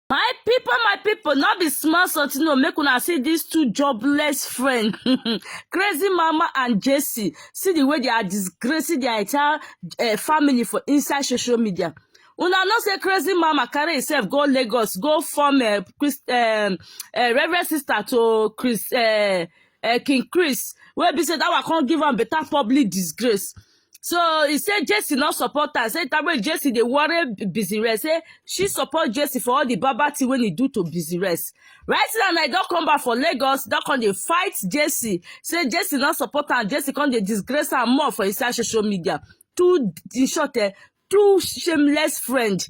My people, my people, not be small something. No, make una see these two jobless friends, crazy mama and Jesse. See the way they are disgracing their entire uh, family for inside social media. Una no say crazy mama carry herself go Lagos, go form a Christ, um, a reverend sister to Chris, uh, uh, King Chris. Where be said that one can't give am better public disgrace. So he said Jesse not support her. Say that way Jesse they worry busy rest. Say she support Jesse for all the baba thing when he do to busy rest. Right now I don't come back for Lagos. Don't come they fight Jesse. Say Jesse not support her. Jesse come they disgrace her more for inside social media. Two in short eh, two shameless friend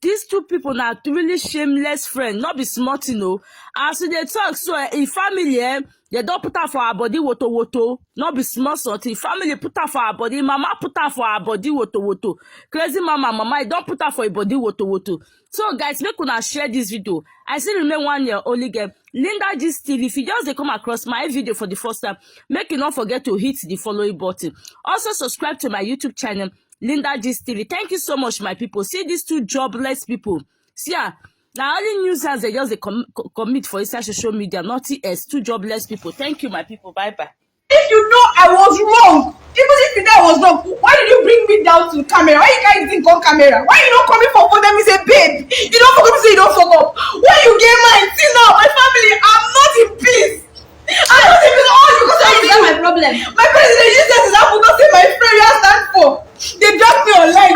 these two people na really shameless friend no be small thing o as we dey talk so eh, im family eh, dem don put am for her body woto woto no be small something family put am for her body mama put am for her body woto woto crazy mama mama e don put am for im body woto woto so guys make una share this video i still remain one year only girl linda gist tv if you just dey come across my video for the first time make you no forget to hit the following button also subscribe to my youtube channel linda gist tv thank you so much my people see these two jobless people see ah na only news as they just dey com commit for inside social media nothing else two jobless people thank you my people bye bye. If you know I was wrong, even if you know I was wrong, why did you bring me down to camera? Why you carry the thing come camera? Why you no come in for phone tell me say babe, you don fuck up, you say you don fuck up. When you get mine, till now, my family, I'm not in peace. I'm not in peace, all because of Is that my you. problem? My parents dey use that example, don't say my friend you ask that for. They drag me online.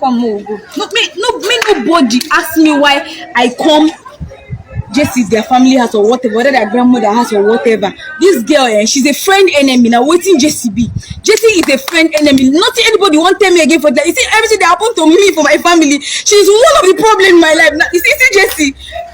come make we go no me no me nobody ask me why i come jesse's their family house or whatever whether their grandmother house or whatever this girl eh she's a friend enemy na wetin jesse be jesse is a friend enemy nothing anybody wan tell me again for that you see everything dey happen to me for my family she's one of the problem in my life na you see see jesse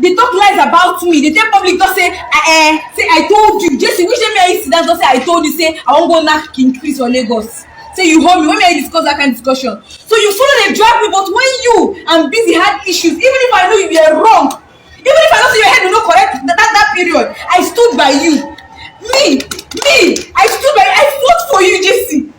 dey talk lies about me dey tell public just say i eh say i told you jesse which day me and you sit down just say i told you say i wan go knack king chris for lagos say you hold me when me and you discuss that kind discussion so you follow dey drag me but when you and busy had issues even if i know you were wrong even if i know say your head no correct that that, that period i stood by you me me i stood by you i fought for you jesse